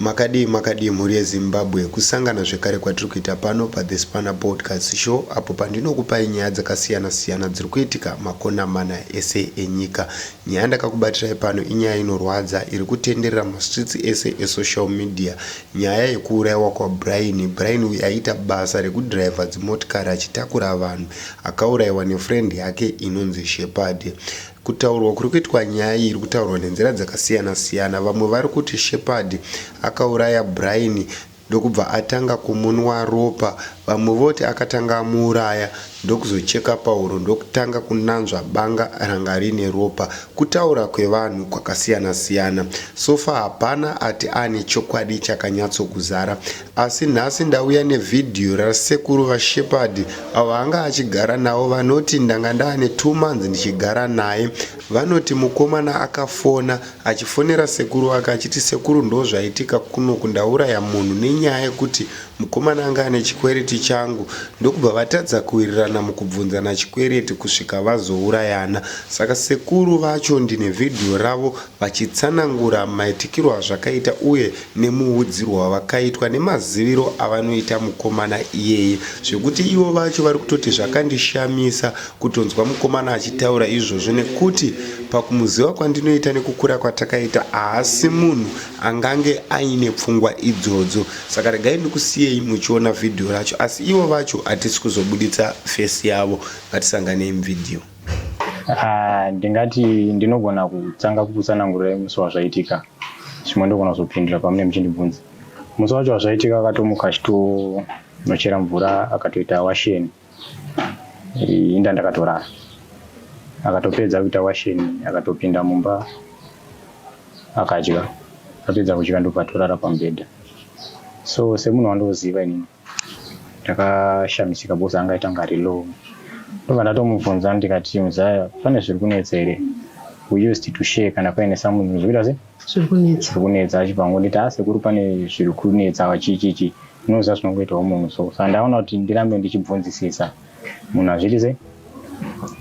Makadii makadii mhuri yeZimbabwe, kusangana zvekare kwatiri kuita pano pa The Spanner Broadcast Show apo pandinokupai nyaya dzakasiyana siyana dziri kuitika makona mana ese enyika. Nyaya yandakakubatirai pano inyaya inorwadza iri kutenderera muma streets ese e social media. Nyaya yekuuraiwa kwa Brian. Brian uyu aiita basa reku driver dzimotikari achitakura vanhu. Akauraiwa ne friend yake inonzi Shepherd. Kutaurwa kuri kuitwa nyaya iyi iri kutaurwa nenzira dzakasiyana siyana. Vamwe vari kuti Shepherd akauraya Brian ndokubva atanga kumunwa ropa, vamwe voti akatanga amuuraya ndokuzocheka pahuro ndokutanga kunanzva banga ranga rine ropa. Kutaura kwevanhu kwakasiyana siyana. So far hapana ati ane chokwadi chakanyatsokuzara Asi nhasi ndauya ne video ra sekuru va Shepherd avo anga achigara navo vanoti ndanga ndaane two months ndichigara naye. Vanoti mukomana akafona achifonera sekuru vake achiti sekuru ndozvaitika kunoku ndauraya munhu nenyaya yekuti mukomana anga ane chikwereti changu ndokubva vatadza kuwirirana mukubvunzana chikwereti kusvika vazourayana. Saka sekuru vacho ndine video ravo vachitsanangura maitikirwo azvakaita uye nemuudzirwo wavakaitwa nemaziviro avanoita mukomana iyeye zvekuti ivo vacho vari kutoti zvakandishamisa kutonzwa mukomana achitaura izvozvo nekuti pakumuziva kwandinoita nekukura kwatakaita haasi munhu angange aine pfungwa idzodzo saka regai ndikusiyei muchiona vhidhiyo racho asi ivo vacho hatisi kuzobuditsa fesi yavo ngatisanganei muvhidhiyo Ah, ndingati ndinogona kutanga kukutsanangurira imusi wazvaitika zvimwe ndogona kuzopindura pamune muchindibvunza musi wacho wazvaitika akatomuka achitonochera mvura akatoita washeni inda ndakatorara akatopedza kuita washeni akatopinda mumba akadya apedza kudya ndobva atorara pamubhedha so semunhu wandoziva inini ndakashamisika because anga aitanga ari low ndobva ndatomubvunza ndikati muzaya pane zviri kunetsa here we used to share kana paine something zvikuita se zviri kunetsa zviri kunetsa achibva ngonditi ha sekuru pane zviri kunetsa chichichi unoziva zvinongoitawo munhu so sa ndaona kuti ndirambe ndichibvunzisisa munhu hazviiti sei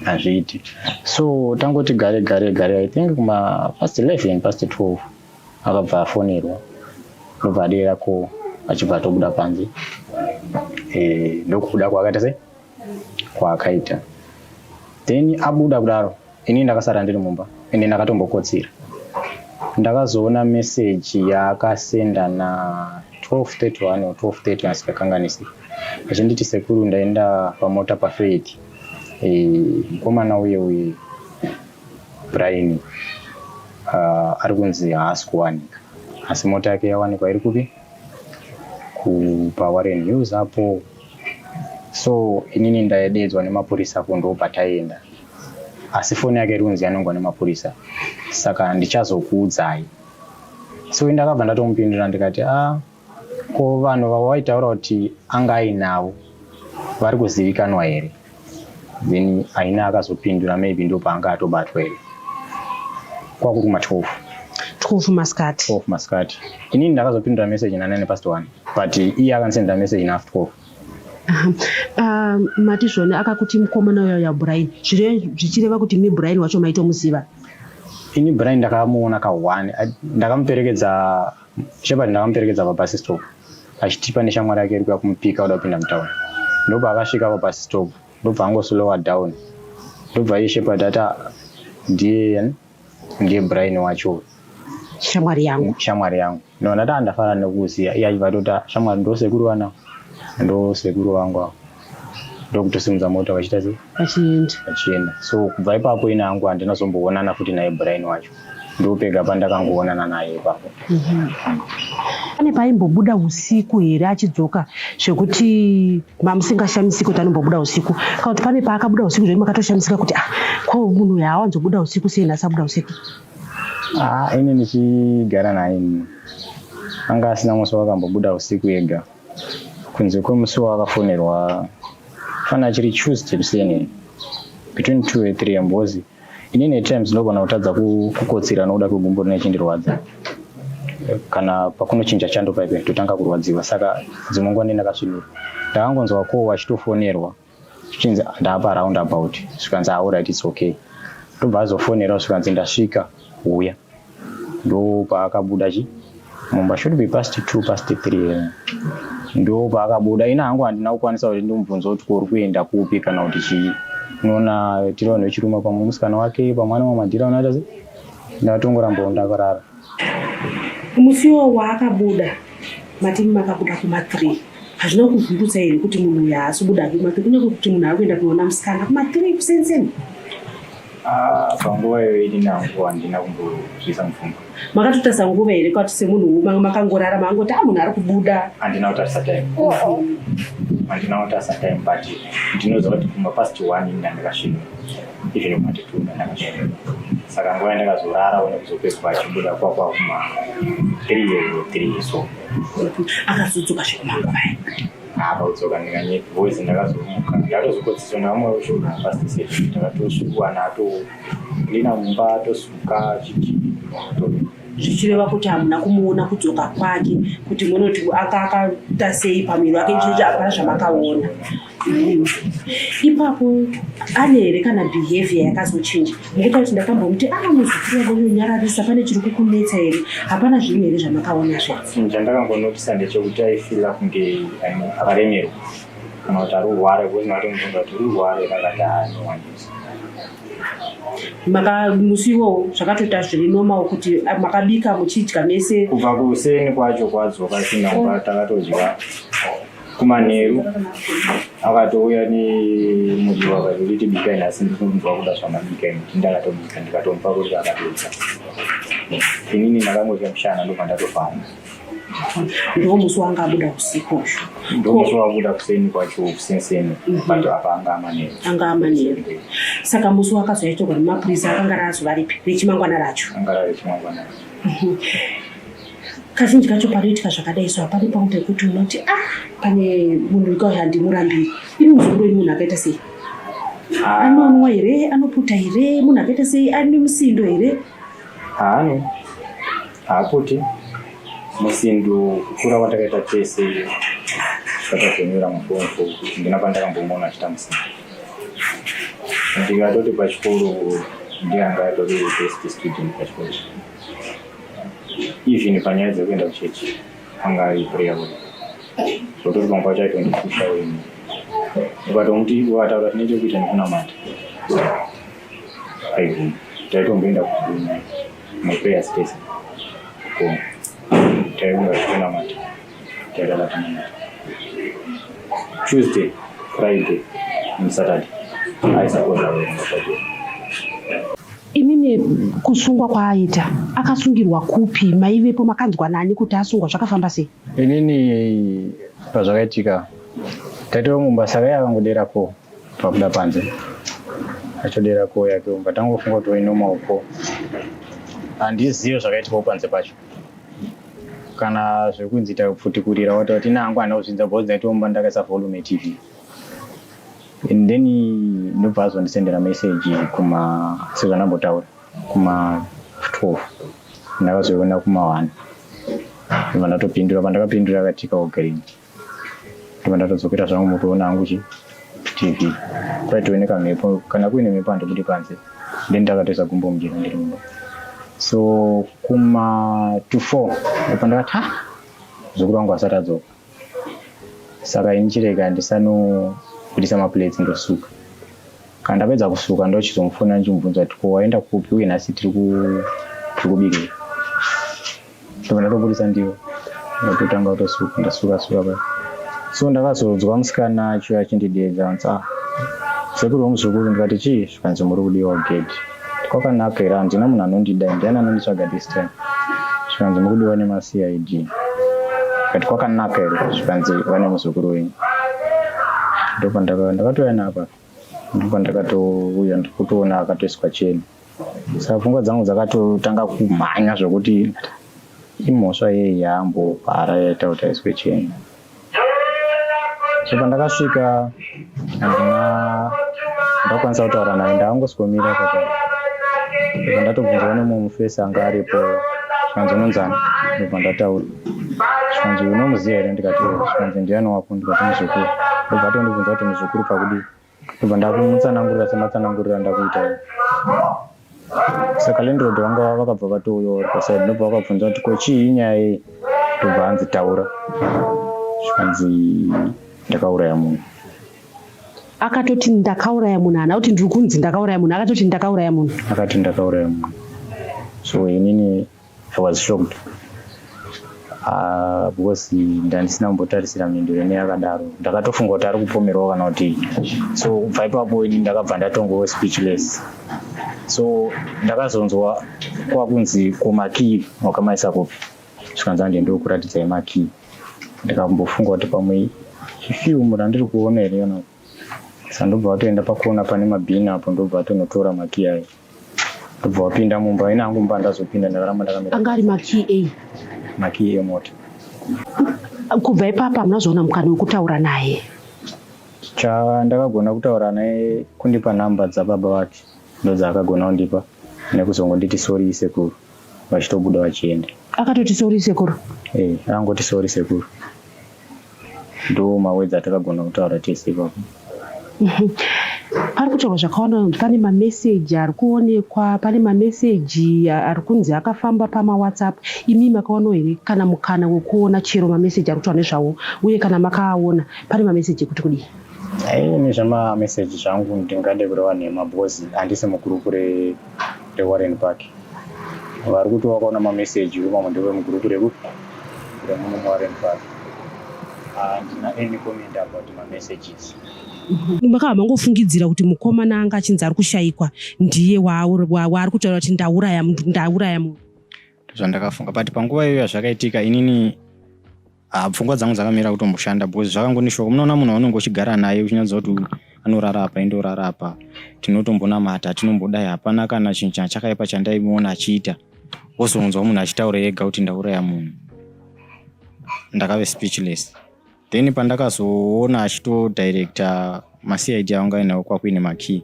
hazviiti so tangoti gare gare gare i think kuma past 11 past 12 akabva afonerwa ndobva adeera ko achibva atobuda panze eh, ndokubuda kwaakaita se kwaakaita then abuda kudaro ini ndakasara ndiri mumba ende ndakatombokotsira ndakazoona meseji yaakasenda na 1231 or 1230 asikakanganisi achinditi sekuru ndaenda pamota pafeiti eh, mukomana uye uye Brian uh, ari kunzi haasi kuwanika asi mota yake yawanikwa iri kupi kupawarren hills apo so inini ndaededzwa nemapurisa apo ndo pataienda asi foni yake iri kunzi yanongwa nemapurisa saka ndichazokuudzai so indakabva ndatomupindura ndikati a ah, Ko vanhu vawaitaura kuti anga ainavo vari kuzivikanwa here? Then Aina akazopindura maybe ndo paanga atobatwa here. Kwakuri kuma 12. 12 masikati. 12 masikati. Inini ndakazopindura message na 9 past 1 but iye akansenda message na after 12. Aha. Uh, mati zvone akakuti mukomana uya uya Brian. Zvire zvichireva kuti mi Brian wacho maitomuziva. Ini Brian ndakamuona ka one ndakamuperekedza Shepherd ndakamuperekedza pabus stop achiti pane shamwari yake iri kuya kumupika oda kupinda mutown ndobva akasvika pabus stop ndobva angoslowa down ndobva iye Shepherd ati ndiye ndiye Brian wacho shamwari yangu shamwari yangu no ndati andafara nekuziya iye achibva atoti shamwari ndosekuru vana ndosekuru vangu avo ndokutosimudza mota vachita sei vachienda vachienda so kubva ipapo ina hangu handina zomboonana futi naye brain wacho ndopega pandakangoonana naye ipapo mhm. pane paimbobuda usiku here achidzoka zvekuti mamusingashamisiki kuti anombobuda usiku kana kuti pane paakabuda usiku zvekuti makatoshamisika kuti ah ko munhu uyu haawanzobuda usiku sei nhasi abuda usiku ah ini ndichigara naye anga asina musi wakambobuda usiku ega kunze kwemusi waakafonerwa fana achiri tuesday kuseni between two and three ambozi inini at times ndogona kutadza kukotsira nokuda kwegumbo rine chindirwadza kana pakunochinja chando paipe totanga kurwadziwa saka dzimwe nguva ndendakasvinura ndakangonzwa ko achitofonerwa zvichinzi ndapa round about zvikanzi auright ah, its okay ndobva azofonerawo zvikanzi ndasvika huya ndopaakabuda chi mumba should be past two past three eh. ndo paakabuda ina hangu handina kukwanisa kuti ndimubvunza kuti kuri kuenda kupi kana kuti chii unoona tiri vanhu vechiruma pamwe musikana wake pamwana wamadhira unoita se ndatongorambawo ndakarara Musi iwowo waakabuda matimi makabuda kuma three hazvina kuvhundutsa here kuti munhu uyu haasi kubuda hake kuma three kunyange kuti munhu ari kuenda kunoona musikana kuma three kusenseni Ah, panguva iyoyo ndina nguva handina kumbozviisa mupfungwa makatotarisa nguva here kwati semunhu manga makangorara mangoti a ah, munhu ari kubuda handina kutarisa time oh, oh. handina kutarisa time but ndinoziva kuti kumba past one ndandikasvika even matipunda ndakashaya saka nguva yandakazorara one kuzopedzwa achibuda kwakwakuma three years or three years so akazodzoka zvekumanguvai apa kudzoka ndikanyepi voice ndakazomuka ndatozokotsiswa namwe ushona pastisei ndakatosvikuwana ato ndina mumba atosuka chichi zvichireva kuti hamuna kumuona kudzoka kwake kuti munoti akakata sei pamwiri wake chii zvamakaona ipapo ane here kana behavior yakazochinja ngokuti kuti ndakambomuti aa ah, muzukuru vanonyararisa pane chiri kukunetsa here hapana zvinhu here zvamakaona zve hmm, chandakangonotisa ndechekuti aifila kunge akaremerwa kana kuti arurware kuzina kuti muzonga kuti urware kakati aanowanisa maka musi iwowo zvakatoita zviri normal kuti ah, makabika muchidya mese kubva kuseni kwacho kwadzoka sina kuba takatodya kumanheru akatouya nemuriwo akati nditi bikai nhasi ndinomuva kuda zvamabika inoti ndakatomuita ndikatomupa kuti akatodza inini ndakangodya mushana ndobva ndatofamba ndomusi wanga abuda usiku usho ndomusi wabuda kuseni kwacho kusenseni mhm. but apa anga amanheru anga amanheru saka musi wakazoitorwa nemapurisa akanga raazovaripi rechimangwana racho anga rari chimangwana racho mhm. kazhinji kacho panoitika zvakadai so hapadi pangu pekuti unoti a ah, pane munhu wekauya handimurambiri ini muzukuru ini munhu akaita sei ah. anonwa here anoputa here munhu akaita sei ane musindo here haane haaputi musindo kukura kwatakaita tese zvakazonyura mufomfo kuti ndina pandakambomona achita musindo ndikatoti pachikoro ndianga atori best student pachikoro even panyaya dzekuenda kuchechi anga ari prayer boy zvokuti pamwe pacho aitondipusha wena ukatomuti ukataura tine chekuita nekunamata aibvuma taitomboenda kumaprayer space ko taiunga zvekunamata Chakalatinana. Tuesday, Friday and Saturday. I support our Saturday. Imimi kusungwa kwaaita akasungirwa kupi maivepo makanzwa nani kuti asungwa zvakafamba sei? Inini pazvakaitika taitova mumba saka iye akangodera ko pakuda panze achodera ko yake umba tangofunga kuti wainomaoko handizive zvakaitikawo panze pacho kana zvekunzi tapfutikurira wati wati nangu hana kuzvidza because ndaitoomba ndakaisa volume tv and then ndobva azondisendera message kuma sezvandambotaura kuma 12 ndakazoiona kuma one vanatopindura pandakapindura akatika ugreen ndibva ndatodzokera zvangu mukuona hangu chi tv kwaitove nekamhepo kana kuine mhepo handibudi panze then ndakatoisa gumbo mujena ndiri mumba so kuma to four apa ndakati ha muzukuru wangu asati adzoka saka ini chirega ndisanobudisa maplates ndosuka kana ndapedza kusuka ndochizomufona ndichimubvunza kuti ko waenda kupi uye nhasi tiri kubikira ndobva ndatoburitsa ndiro ndototanga kutosuka ndasuka suka paya so ndakazodzwa musikana acho achindideedza anzi ah sekuru wemuzukuru ndikati chii zvikanzi muri kudiwa gedhi kwakanaka here handina munhu anondida ndiani anonditsvaga this time zvikanzi muri kudiwa nemacid kati kwakanaka here zvikanzi vane muzukuru wenyu ndopandakatouya napa ndopandakatouya ndikutoona akatoiswa cheni Saka pfungwa dzangu dzakatotanga kumhanya zvokuti imhosva yei yaambopara yaita kuti aiswe cheni. So pandakasvika handina ndakwanisa kutaura naye ndaangoswomira kaka pandatobvunzwa nemumwe mufesi anga aripo zvikanzi unonzani ndobva ndataura zvikanzi unomuziva here ndikati zvikanzi ndiyani wako ndikati muzukuru ndobva atondibvunza kuti muzukuru pakudii ndobva ndakumutsanangurira sematsanangurira ndakuita saka landlord vanga vakabva vatouyawo vari pasaidi ndobva vakabvunza kuti ko chii nyaya iyi ndobva hanzi taura zvikanzi ndakauraya munhu akatoti ndakauraya munhu hana kuti ndiri kunzi ndakauraya munhu akatoti ndakauraya munhu akati ndakauraya munhu so inini I was shocked uh, because ndandisina kumbotarisira mhinduro ine yakadaro ndakatofunga kuti ari kupomerwa kana kuti so kubva ipapo ini ndakabva ndatongowo speechless so ndakazonzwa kwakunzi komakii wakamaisa kupi zvikanzi ande ndokuratidzai makii ndikambofunga kuti pamwe ifilmu randiri kuona here yona sandobva watoenda pakona pane mabhini apo ndobva watonotora makii ayo ndobva wapinda mumba ina hangu mumba ndazopinda ndakaramba ndakamira anga ari makii ei makii emota kubva ipapa hamuna zvaona mukana wekutaura naye chandakagona kutaura naye kundipa nhamba dzababa vake ndodzaakagona kundipa nekuzongonditi sori isekuru vachitobuda vachienda akatoti sori isekuru e eh, angoti sori isekuru Ndo mawords atakagona kutaura tese ipapo. Pari kutaurwa zvakawanda, pane mameseji ari kuonekwa, pane mameseji ari kunzi akafamba pamaWhatsApp. Imi makawanawo here kana mukana wekuona chero mameseji ari kutaura nezvawo? Uye kana makaaona, pane mameseji ekuti kudii? Ayi, nezvamameseji zvangu ndingade kureva nhema because handisi mugroup re reWarren Park vari kuti vakaona mameseji vemamwe ndeve mugurupu reku remuno muWarren Park handina ah, any comment about mamessages vakabva mangofungidzira kuti mukomana anga achinzi ari kushaikwa ndiye waari kutaura kuti ndauraya munhu ndauraya munhu ndozvandakafunga but panguva iyoyo yazvakaitika inini Ah, pfungwa dzangu dzakamira kutomboshanda because zvakangonishoka munoona munhu waunenge uchigara naye uchinyatsa kuti anorara apa ende orara apa tinotombonamata tinombodai hapana kana chinhu chana chakaipa chandaimuona achiita wozonzwa munhu achitaura ega kuti ndauraya munhu ndakave speechless then pandakazoona achitodirecta macid aunga ainawo kwakuine makey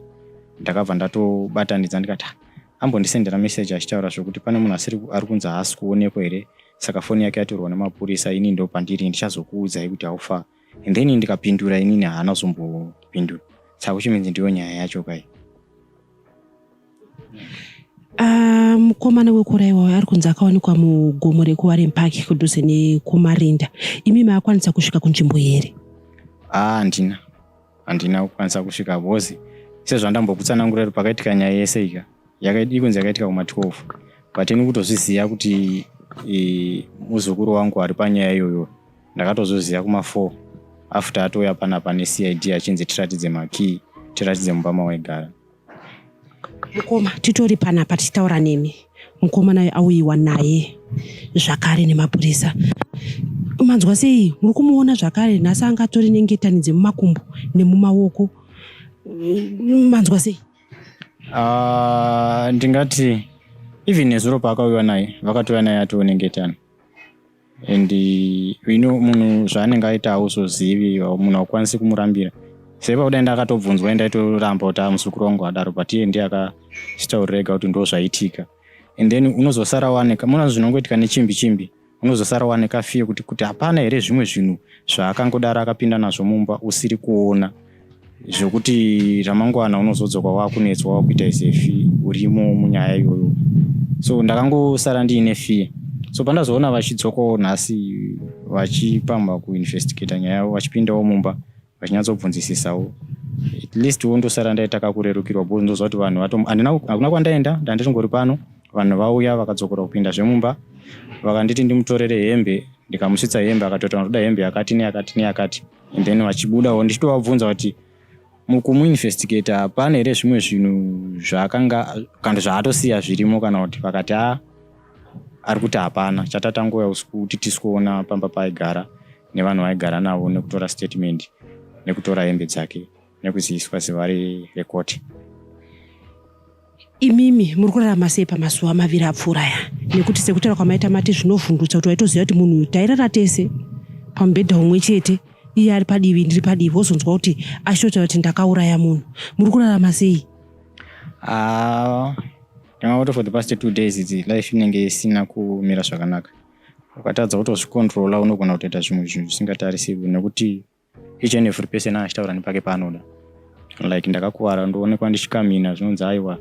ndakabva ndatobatanidza ndikati ah, ambondisendera message achitaura zvekuti pane munhu ari kunzi haasi kuonekwa here saka foni yake yatorwa nemapurisa ini ndo pandiri ndichazokuudzai kuti haufa and then ndikapindura inini haana kuzombopindura saka kuchiminzi ndiyo nyaya yacho kai ah, mukomana um, wekurayiwa uyo ari kunzi akawanikwa mugomo rekuwaren park kudhuze nekumarinda imi maakwanisa kusvika kunzvimbo here ah, handina ah, handina kukwanisa kusvika because sezvandambokutsanangura kuti pakaitika nyaya yese ika ikunzi yakaitika kuma 12 but ini kutozviziva kuti e, muzukuru wangu ari panyaya iyoyo ndakatozviziva kuma 4 after atouya panapa necid achinzi tiratidze makey tiratidze mumba mawaigara mukoma titori panapa tichitaura nemi mukoma nayo auyiwa naye zvakare nemapurisa manzwa sei muri kumuona zvakare nhasi anga atori nengetani dzemumakumbo nemumaoko manzwa sei ah, ndingati even nezuro paakauyiwa naye vakatouya naye atiwo nengetani and you know munhu zvaanenge aita hauzozivi munhu haukwanisi kumurambira sei pakudai ndakatobvunzwa e ndaitoramba kuti amuzukuru wangu adaro but iye ndiye akachitaurira ega kuti ndo zvaitika and then unozosara wanika muna zvinongoitika nechimbi chimbi unozosara wanika fiye kuti kuti hapana here zvimwe zvinhu zvaakangodaro akapinda nazvo mumba usiri kuona zvekuti ramangwana unozodzoka wakunetswa wakuita isefi urimo munyaya iyoyo so ndakangosara ndiine fear so pandazoona vachidzokawo nhasi vachipamba kuinvestigata nyaya yavo vachipindawo mumba vachinyatsobvunzisisawo at least wo ndosara ndaita kakurerukirwa bcause ndoziva kuti vanhu hakuna kwandaenda ndandiringori pano vanhu vauya vakadzokora kupinda zvemumba vakanditi ndimutorere hembe ndikamusvitsa hembe akatotaura ndoda hembe yakati neyakati neyakati and then vachibudawo ndichitovabvunza kuti mukumuinvestigator pane here zvimwe zvinhu zvaakanga kana zvaatosiya zvirimo kana kuti vakati a ah, ari kuti hapana chatatangoya usiku kuti tisikuona pamba paaigara nevanhu vaaigara navo nekutora statement nekutora hembe dzake nekuziviswa zuva rekoti imimi muri kurarama sei pamazuva maviri apfuura aya nekuti sekutaura kwamaita mati zvinovhundutsa kuti waitoziva kuti munhu uyu tairara tese pamubhedha umwe chete iye ari padivi ndiri padivi wozonzwa kuti ashota kuti ndakauraya munhu muri kurarama sei ah, ndanga kuti for the past two days idzi life inenge isina kumira zvakanaka ukatadza kutozvikontrola unogona kutoita zvimwe zvinhu zvisingatarisirwi nekuti each and every person achitaura nepake paanoda like ndakakuvara ndoonekwa ndichikamina zvinonzi aiwa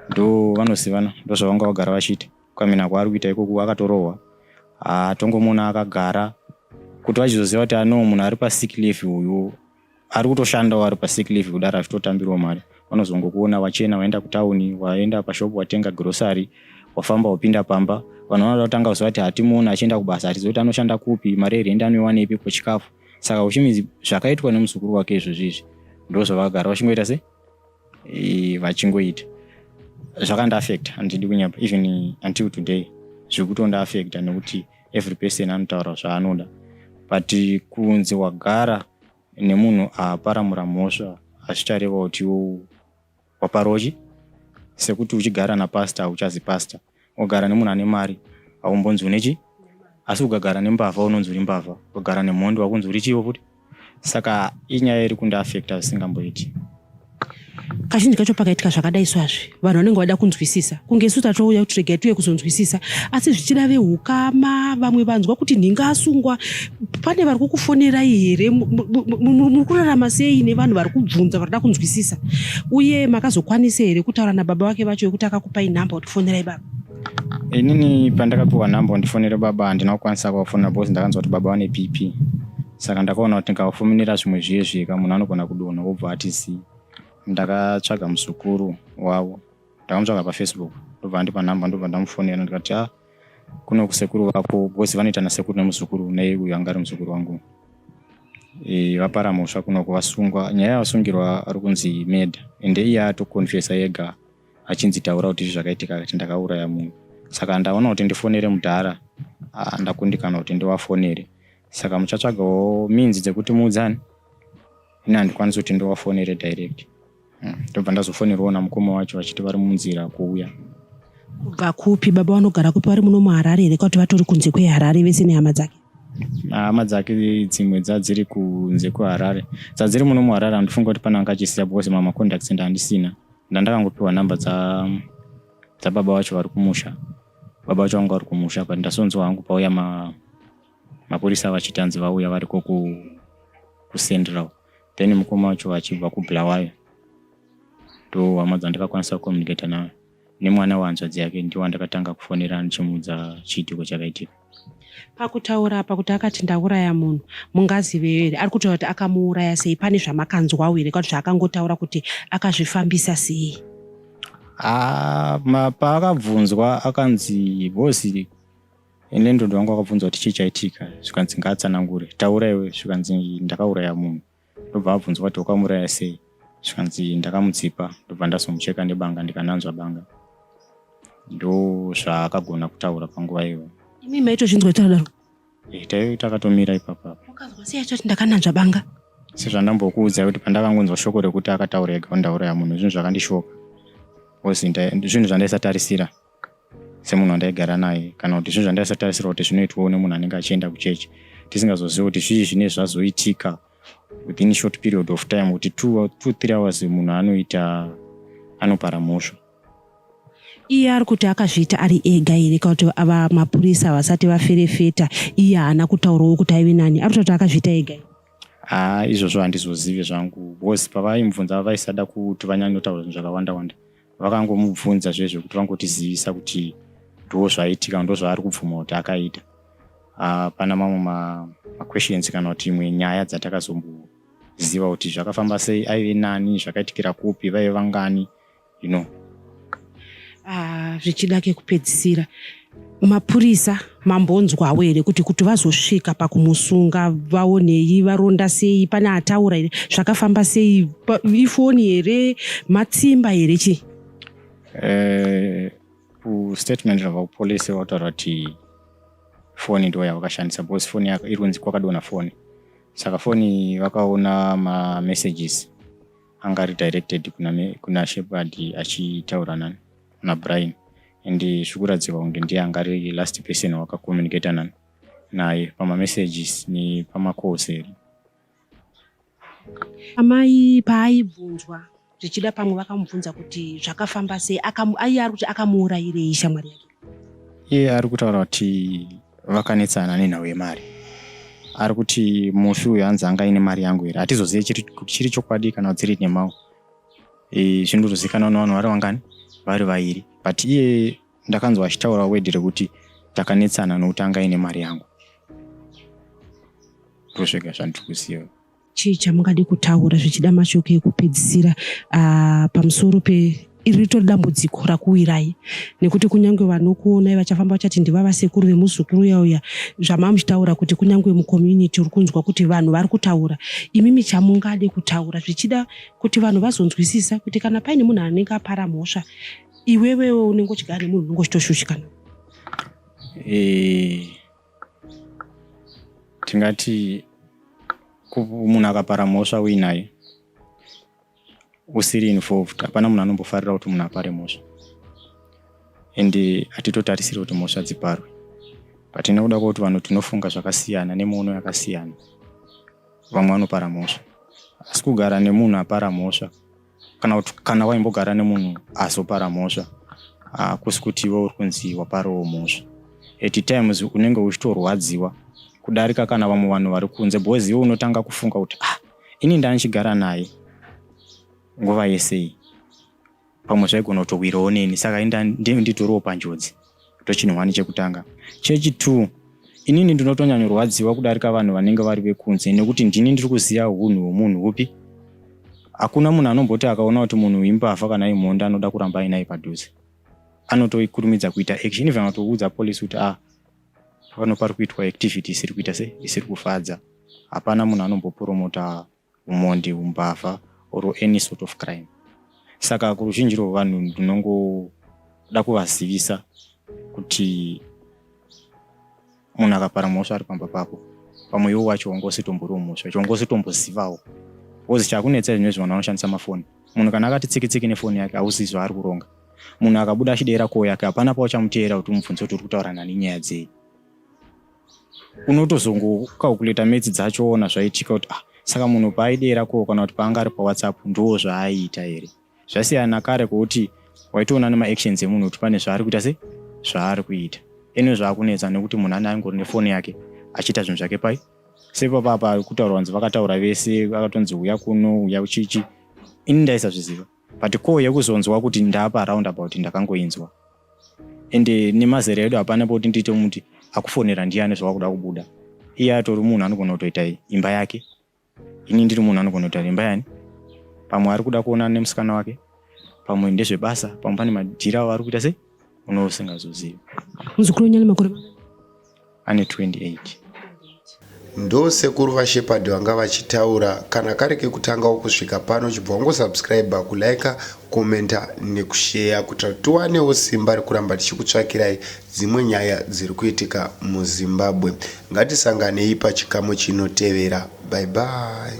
ndo vanozivana ndo zvavanga vagara vachiita kukamina kwaari kuita ikoku akatorohwa hatongomuona akagara kuti vachizoziva kuti ano munhu ari pasick leave uyu ari kutoshandawo ari pasick leave kudaro achitotambirwa mari vanozongokuona wachena waenda kutauni waenda pashop watenga grocery wafamba wapinda pamba vanhu vanoda kutanga kuziva kuti hatimuoni achienda kubasa hatizivi kuti anoshanda kupi mari yerende anoiwanepi kwechikafu saka uchimizi zvakaitwa nemuzukuru wake izvozvi izvi ndo zvavagara vachingoita se vachingoita zvakandiafecta handidi kunyapa even until today zviri kutondiafecta nekuti every person anotaura zvaanoda but kunzi wagara nemunhu aparamura mhosva hazvichareva kuti waparoji sekuti uchigara napastor hauchazi pastor wagara nemunhu ane mari haumbonzi une chi asi ukagara nembavha unonzi uri mbavha ukagara nemhondi wakunzi uri chivo futi saka inyaya iri kundiafekta zvisingamboiti kazhinji kacho pakaitika zvakadai swazvi vanhu vanenge vada kunzwisisa kunge isu tatouya kuti regai tiuye kuzonzwisisa asi zvichida vehukama vamwe vanzwa kuti nhinga asungwa pane vari kukufonerai here muri kurarama sei nevanhu vari kubvunza varida kunzwisisa uye makazokwanisa here kutaura nababa vake vacho yekuti akakupai nhamba kuti fonerai baba inini pandakapiwa nhamba undifonere baba handina kukwanisa kuvafonera because ndakanzwa kuti baba vane pp saka ndakaona kuti ndikafominira zvimwe zviye zvika munhu anogona kudonha wobva ati zii ndakatsvaga muzukuru wavo ndakamutsvaga pafacebook ndobva andipa nhamba ndobva ndamufonera ndikati a ah, kuno kusekuru vako because vanoita nasekuru nemuzukuru nei uyo anga ari muzukuru wangu e, vapara mhosva kunoko vasungwa nyaya yavasungirwa ari kunzi meda ende iye atokonfesa yega achinzi taura kuti izvi zvakaitika kati ndakauraya munhu saka ndaona kuti ndifonere mudhara ah, ndakundikana kuti ndivafonere saka muchatsvagawo means dzekuti muudzane ini handikwanisi kuti ndovafonere direct hmm, ndobva ndazofonerwawo namukoma wacho vachiti vari munzira kuuya kubva kupi baba vanogara kupi vari muno muharare here kwakuti vatori kunze kweharare vese nehama dzake hama dzake dzimwe dzadziri kunze kweharare dzadziri muno muharare handifunga kuti pane angachisiya because mamacontacts enda handisina ndandakangopiwa number dza dzababa vacho vari kumusha baba vacho vanga vari kumusha but ndasonzwa hangu pauya ma mapurisa vachiti hanzi vauya variko kucentral then mukoma wacho vachibva kubulawayo ndo hama dzandakakwanisa kucommunicata nayo nemwana wehanzvadzi yake ndiwo andakatanga kufonera ndichimuudza chiitiko chakaitika pakutaura apa kuti akati ndauraya munhu mungazive here ari kutaura kuti akamuuraya sei pane zvamakanzwawo here kuti zvaakangotaura kuti akazvifambisa sei ah, paakabvunzwa akanzi bosi Landlord wangu akabvunza kuti chii chaitika zvikanzi ngaatsanangure. Taura iwe zvikanzi ndakauraya munhu. Ndobva abvunzwa kuti wakamuraya sei zvikanzi ndakamutsipa ndobva ndazomucheka nebanga ndikananzva banga. Ndozvaakagona kutaura panguva iyoyo. Imi maitozvinzwa kuti akadaro? Eh, taive takatomira ipapa apa. Wakazwa sei achati ndakananzva banga? Sezvandambokuudza kuti pandakangonzwa shoko rekuti akataura ega kuti ndauraya munhu zvinhu zvakandishoka. Because nda- zvinhu zvandaisatarisira. semunhu wandaigara naye kana kuti zvinhu zvandaisatarisira kuti zvinoitwawo nemunhu anenge achienda kuchechi tisingazozivi kuti zvii zvine zvazoitika within short period of time kuti two, two three hours munhu anoita anopara mhosva iye ari kuti akazviita ari ega here kana kuti ava mapurisa vasati vaferefeta iye haana kutaurawo kuti aive nani ari kutoti akazviita ega haa izvozvo handizozive zvangu bcause pavaimubvunza vaisada kuti vanyanyotaura zvinhu zvakawanda wanda vakangomubvunza zvezvo kuti vangotizivisa kuti ndo zvaitika ndo zvaari kubvuma kuti akaita hapana ah, mamwe maquestions kana kuti imwe nyaya dzatakazomboziva kuti zvakafamba sei aive nani zvakaitikira kupi vaive vangani you know ah, zvichida kekupedzisira mapurisa mambonzwawo here kuti kuti vazosvika pakumusunga vaonei varonda sei pane ataura here zvakafamba sei ifoni here matsimba here chii eh, kustatement rava kupolisi vataura kuti foni ndo yavakashandisa because foni iri kunzi kwakadona foni saka foni vakaona mamessages anga ari directed kuna, kuna shepard achitaura nani na Brian and zvikuratidzika kunge ndiye anga ari last person wakakomunicata nani naye pamamessages nepamacalls here amai paaibvunzwa zvichida pamwe vakamubvunza kuti zvakafamba sei aiye ari kuti akamuurayirei shamwari yake iye ari kutaura kuti vakanetsana nenhau yemari ari kuti mufi uyu hanzi anga aine mari yangu here hatizozive chiri chokwadi kana dziri nemau e, zvinotozikana vana vanhu vari vangani vari vairi but iye ndakanzwa achitaura wedhi rekuti takanetsana nokuti anga ine mari yangu ndosvega zvandiri kuziva chii chamungade kutaura zvichida mashoko ekupedzisira uh, pamusoro pe iri ritori dambudziko rakuwirai nekuti kunyange vanokuonai vachafamba vachati ndiva vasekuru vemuzukuru uya uya zvamamuchitaura kuti kunyange mucommunity uri kunzwa kuti vanhu vari kutaura imi michamungade kutaura zvichida kuti vanhu vazonzwisisa kuti kana paine munhu anenge apara mhosva iwewewo unenge uchigara nemunhu unenge uchitoshushikana eh, tingati munhu akapara mhosva uinaye usiri involved hapana munhu anombofarira kuti munhu apare mhosva and eh, hatitotarisiri kuti mhosva dziparwe but inokuda kwakuti vanhu tinofunga zvakasiyana nemwono yakasiyana vamwe vanopara mhosva asi kugara nemunhu apara mhosva kana kuti kana waimbogara nemunhu azopara mhosva hakusi kuti iwe uri kunzi waparawo mhosva at times unenge uchitorwadziwa kudarika kana vamwe vanhu vari kunze because iwe unotanga kufunga kuti ah ini ndandichigara naye nguva yesei pamwe zvaigona kutowirawo neni saka inda nditorewo panjodzi ndochinhwani chekutanga chechitwo inini ndinotonyanyorwadziwa kudarika vanhu vanenge vari vekunze nekuti ndini ndiri kuziva unhu hwemunhu upi hakuna munhu anomboti akaona kuti munhu imbavha kana imhonda anoda kuramba ainaye padhuze anotoikurumidza kuita action even atoudza police kuti ah pano pari kuitwa activity isiri kuita se isiri kufadza hapana munhu anombopromota umhondi umbavha or any sort of crime saka kuruzhinji rwevanhu ndinongoda kuvazivisa kuti munhu akapara mhosva ari pamba pako pamwe iwo wacho wanga usitomborio mhosva icho wanga usitombozivawo bcause chakunetsa izvino izvi vanhu vanoshandisa mafoni munhu kana akati tsiki tsiki nefoni yake hauzivi zvaari kuronga munhu akabuda achideera koo yake hapana pauchamuteera kuti umubvunze kuti uri kutaura nani nyaya dzei unotozongocalculata metsi dzacho ona zvaitika kuti ah, saka munhu paaidera ko kana kuti paanga ari pawhatsapp ndoo zvaaiita here zvasiyana kare kwekuti waitoona nemaactions emunhu kuti pane zvaari kuita se zvaari kuita ene zvaakunetsa nekuti munhu ane aingori nefoni yake achiita zvinhu zvake pai sepapapa kutaura vanzi vakataura vese vakatonzi uya kuno uya uchichi ini ndaisazviziva but ko yekuzonzwa kuti ndapa round about ndakangoinzwa ende nemazera edu hapana poti ndiite muti akufonera ndiyani zvawakuda kubuda iye atori munhu anogona kutoita imba yake ini ndiri munhu anogona kutoita imba yani pamwe ari kuda kuonana nemusikana wake pamwe ndezvebasa pamwe pane madhira avari kuita sei unousingazozivi muzukuru wenyu ane makore ane 28 ndo sekuru vashepard vanga vachitaura kana kari kekutangawo kusvika pano chibva wangosubscribe kulike commenta nekusheya kuitira kuti tiwanewo simba rekuramba tichikutsvakirai dzimwe nyaya dziri kuitika muzimbabwe ngatisanganei pachikamu chinotevera bye bye